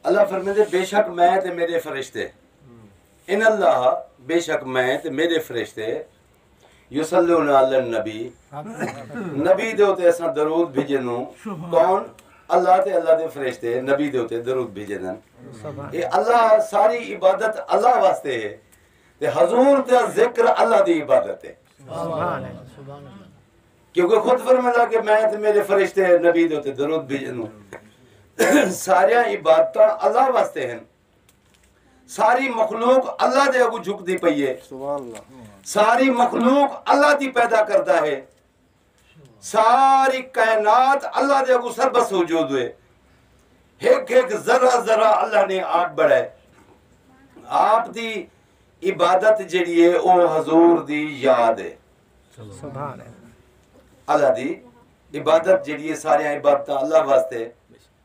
اللہ فرمیندے بے شک میں تے میرے فرشتے ان اللہ بے شک میں تے میرے فرشتے یصلون علی النبی نبی دے اتے اساں درود بھیجیندوں کون اللہ تے اللہ دے فرشتے نبی دے اتے درود بھیجیندن اے اللہ ساری عبادت اللہ واسطے ہے تے حضور دا ذکر اللہ دی عبادت ہے سبحان اللہ سبحان اللہ کیونکہ خود فرمایا کہ میں تے میرے فرشتے نبی دے تے درود بھیجن سارے عبادتاں اللہ واسطے ہیں ساری مخلوق اللہ دے اگو جھک دی پئی ہے ساری مخلوق اللہ دی پیدا کرتا ہے ساری کائنات اللہ دے اگو سربس ہو جو دوئے ایک ایک ذرہ ذرہ اللہ نے آپ بڑھا ہے آپ دی عبادت جڑی ہے او حضور دی یاد ہے سبحان اللہ دی عبادت جڑی ہے سارے عبادت اللہ واسطے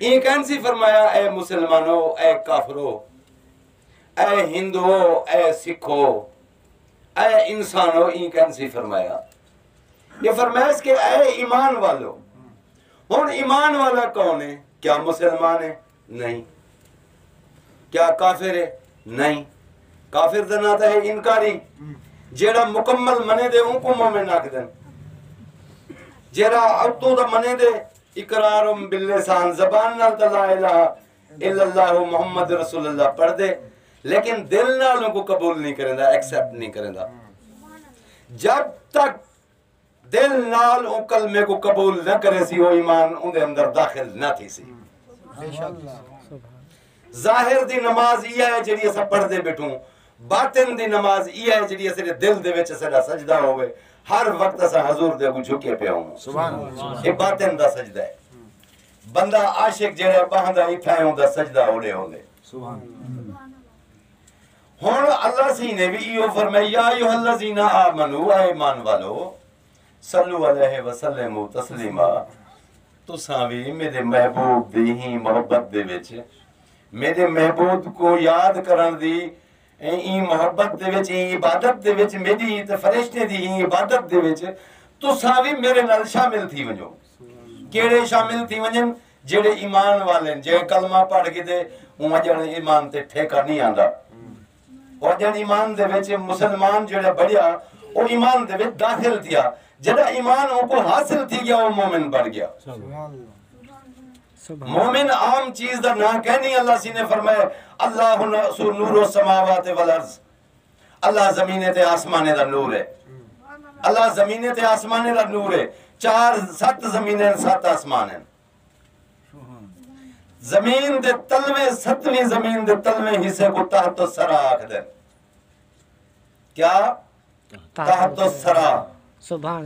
ایں کینسی فرمایا اے مسلمانو اے کافرو اے ہندو اے سکھو اے انسانو ایں کینسی فرمایا یہ فرمائش کہ اے ایمان والو ہن ایمان والا کون ہے کیا مسلمان ہے نہیں کیا کافر ہے نہیں کافر دا نہ ہے انکاری جیڑا مکمل منے دے ان کو مومن آکھ دن جیڑا اتو دا منے دے اقرار باللسان زبان نال تاں لا الہ الا اللہ محمد رسول اللہ پڑھ دے لیکن دل نال ان کو قبول نہیں کریں دا ایکسپٹ نہیں کریں دا جب تک دل نال او کلمے کو قبول نہ کرے سی او ایمان اون دے اندر داخل نہ تھی سی ظاہر دی نماز ایہا ہے جیڑھی اساں پڑھدے بیٹھوں باطن دی نماز ایہا ہے جیڑھی اساڈے دل دے وچ اساڈا سجدہ ہووے ہر وقت اساں حضور دے اگوں جھکے پیا ہوں سبحان اللہ اے باطن دا سجدہ ہے بندہ عاشق جیڑا باہندا ایتھا ہے اوندا سجدہ اوڑے ہوندے سبحان اللہ ہن اللہ سی نے بھی ایو فرمایا یا ایھا الذین آمنو اے ایمان والو صلو علیہ وسلمو تسلیما تساں وی میڈے محبوب دی ہی محبت دے وچ میڈے محبوب کو یاد کرن دی ایں ای محبت دے وچ ایں عبادت دے وچ میڈی ہی تے فرشتے دی ہی عبادت دے وچ تساں وی میرے نال شامل تھی ونجو کیڑے شامل تھی ونجن جیڑے ایمان والے جے کلمہ پڑھ کے دے اون جڑے ایمان تے ٹھیکا نہیں آندا او جڑ ایمان دے وچ مسلمان جڑا بڑیا او ایمان دے وچ داخل تھیا جڑا ایمان او کو حاصل تھی گیا او مومن بڑ گیا مومن عام چیز دا نہ کہنی اللہ سی نے فرمائے اللہ سو نور و سماوات والارض اللہ زمین تے آسمان دا نور ہے اللہ زمین تے آسمان دا نور ہے چار سات زمین ہیں سات آسمان ہیں زمین دے تلویں ستویں زمین دے تلویں حصے کو تحت السرا آکھ دے کیا تحت السرا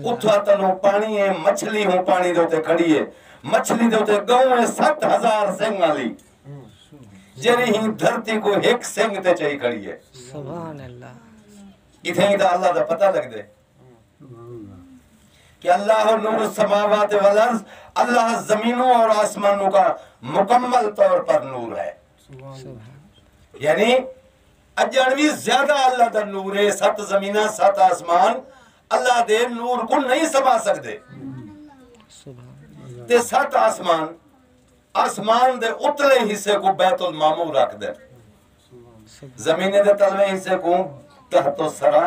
اتھا تنو پانی ہے مچھلی ہوں پانی دے تے کھڑی ہے مچھلی دے تے گاؤں ہے ست ہزار سنگ والی جری ہی دھرتی کو ایک سنگ تے چاہی کھڑی ہے سبحان اللہ کتھے ہی دا اللہ دا پتہ لگ دے کہ اللہ نور السماوات والارض اللہ زمینوں اور آسمانوں کا مکمل طور پر نور ہے یعنی اجن بھی زیادہ اللہ دا نور ہے سات زمینہ سات آسمان اللہ دے نور کو نہیں سما سکتے تے سات آسمان آسمان دے اتلے حصے کو بیت المامو رکھ دے زمین دے تلوے حصے کو تحت و سرا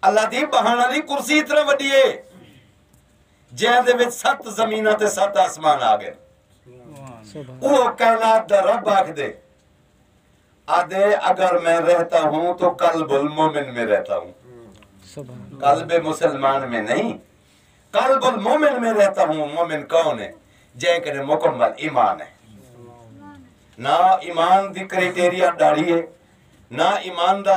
اللہ دی بہن آلی کرسی اتنا وڈی ہے جہاں دے وچ ست زمینہ تے ست آسمان آگئے وہ کائنات دا رب آکھ دے آدھے اگر میں رہتا ہوں تو قلب المومن میں رہتا ہوں قلب مسلمان میں نہیں قلب المومن میں رہتا ہوں مومن کون ہے جائے کہ مکمل ایمان ہے نہ ایمان دی کریٹیریا ڈاڑی ہے نہ ایمان دا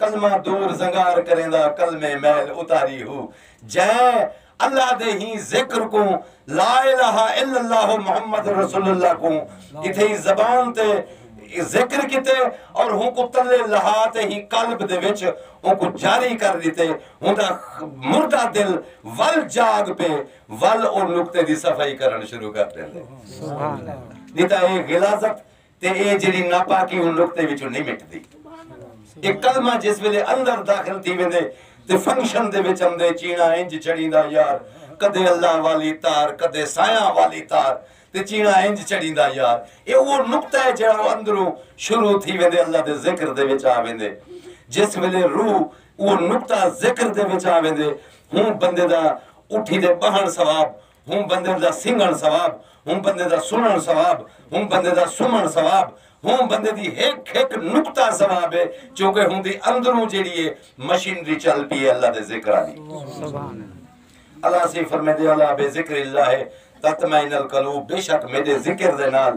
کلمہ دور زنگار کریندا کلمے میل اتاری ہو جئیں اللہ دے ہی ذکر کوں لا الہ الا اللہ محمد رسول اللہ کوں اتھئی زبان تے ذکر کیتے اور ہوں کو تلے لہا تے ہی قلب دے وچ ہوں کو جاری کر دیتے ہوں دا مردہ دل ول جاگ پہ ول اور نکتے دی صفائی کرن شروع کر دیتے دیتا ہے غلازت تے ایہ جیڑھی ناپاکی اوں نقطے وچوں نئیں مٹدی۔ ایہ کلمہ جس ویلے اندر داخل تھی ویندے تے فنکشن دے وچ آندے چیڑا انج چڑیندا یار کدے اللہ والی تار کدے سایاں والی تار تے چیڑا انج چڑیندا یار ایہ اوہ نقطہ ہے جیڑھا اندروں شروع تھی ویندے اللہ دے ذکر دے وچ آ ویندے جس ویلے روح اوہ نقطہ ذکر دے وچ آ ویندے ہوں بندے دا اٹھی تے بہن ثواب ہوں بندے دا سنگن ثواب ہوں بندے دا سنن ثواب ہوں بندے دا سمن ثواب ہوں بندے دی ہک ہک نقطہ ثواب ہے چونکہ ہوں دی اندروں جیڑی ہے مشینری چل پی ہے اللہ دے ذکر علی اللہ سی فرمے دے اللہ بے ذکر اللہ ہے تطمئن القلوب بے شک میرے ذکر دے نال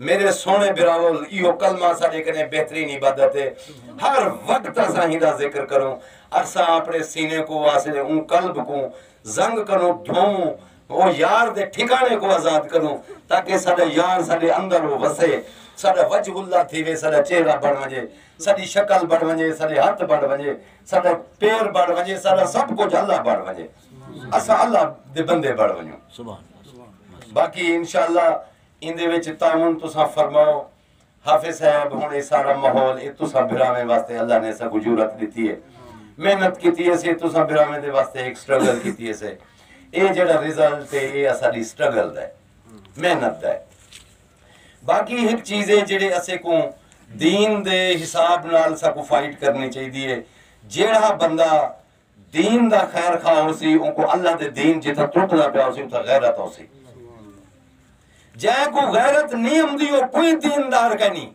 میݙے سوہݨے بھراول ایہو کلمہ اساݙے کنیں بہترین عبادت ہے ہر وقت اساں ہیندا ذکر کروں اساں اپݨے سینے کو واسلے اوں قلب کو زنگ کنوں دھووں او یار دے ٹھکانے کو آزاد کروں تاکہ ساڈا یار ساڈے اندر او وسے ساڈا وجہ اللہ تھی وے ساڈا چہرہ بڑھ ونجے ساڈی شکل بڑھ ونجے ساڈے ہاتھ بڑھ ونجے ساڈا پیر بڑھ ونجے ساڈا سب کچھ اللہ بڑھ ونجے اسا اللہ دے بندے بڑھ ونجوں باقی انشاءاللہ ایندے وچ تعاون تساں فرماؤ۔ حافظ صاحب ہن اے سارا ماحول اے تساں بھراویں واسطے اللہ نے اساکوں جرات ݙتی اے۔ محنت کیتی اسے تساں بھراویں دے واسطے ہک سٹرگل کیتی اسے۔ اے جیڑھا ریزلٹ اے اے اساݙی سٹرگل دا اے۔ محنت دا اے۔ باقی ہک چیز اے جیڑھے اسیکوں دین دے حساب نال اساکوں فائٹ کرنی چاہیدی اے۔ جیڑھا بندہ دین دا خیر خواہ ہوسی اونکوں اللہ دے دین جتھاں ترٹدا پیا ہوسی اتھاں غیرت ہوسی جئیں کوں غیرت نی امدی او کوئی دین دار کہیں نی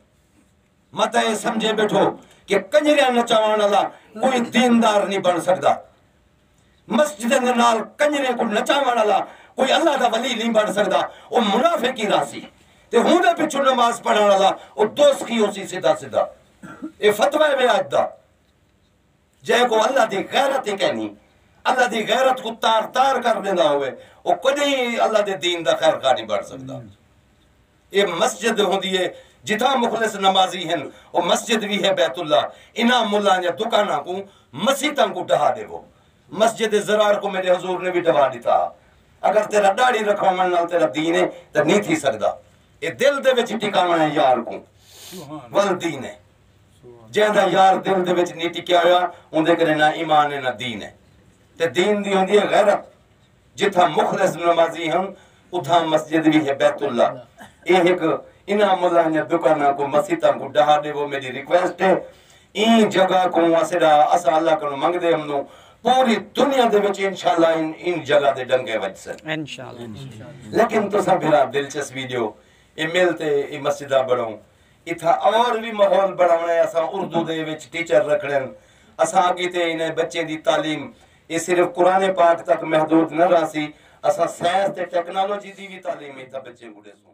مت اے سمجھے بیٹھو کہ کنجریاں نچاوان والا کوئی دین دار نی بن سکدا مسجد دے نال کنجریاں کوں نچاوان والا کوئی اللہ دا ولی نی بن سکدا او منافق ہی راسی تے ہوں دے پچھوں نماز پڑھن والا او دوسخی ہوسی سیدھا سیدھا اے فتوی ہے میں اج دا جئیں کوں اللہ دی غیرت ہی کینی۔ اللہ دی غیرت کوں تار تار کر ڈیندا ہووے او کڈی اللہ دے دین دا خیر خواہ نی بن سگدا۔ اے مسجد ہوندی ہے جتھاں مخلص نمازی ہن او مسجد وی ہے بیت اللہ انہاں ملاں دیاں دکاناں کوں مسیتاں کوں ڈھا ڈیوو۔ مسجد ضرار کوں میڈے حضور نے وی ڈھوا ڈتا ہا۔ اگر تیرا ڈاڑھی رکھواون نال تیرا دین ہے تاں نی تھی سگدا۔ اے دل دے وچ ٹکاون ہے یار کوں ول دین ہے۔ جیں دا یار دل دے وچ نہیں ٹکیا ہویا اوندے کنے نہ ایمان ہے نہ دین ہے تے دین دی ہوندی ہے غیرت جتھاں مخلص نمازی ہن اتھاں مسجد بھی ہے بیت اللہ اے ایک انہاں ملانیاں دکاناں کو مسیتاں کو ڈہا دے وہ میری ریکویسٹ ہے این جگہ کو اسڑا اسا اللہ کو منگ دے ہم نو پوری دنیا دے وچ انشاءاللہ ان, ان جگہ دے ڈنگے وج سن انشاءاللہ لیکن تو سا بھرا دلچسپی دیو اے مل تے اے مسجدہ بڑھوں اتھاں اور وی ماحول بنڑاونے اساں اردو دے وچ ٹیچر رکھنڑن اساں کیتے انہیں بچیں دی تعلیم اے صرف قرآن پاک تک محدود نہ رہسی اساں سائنس تے ٹیکنالوجی دی وی تعلیم اتھاں بچیں کوں ڈیسوں۔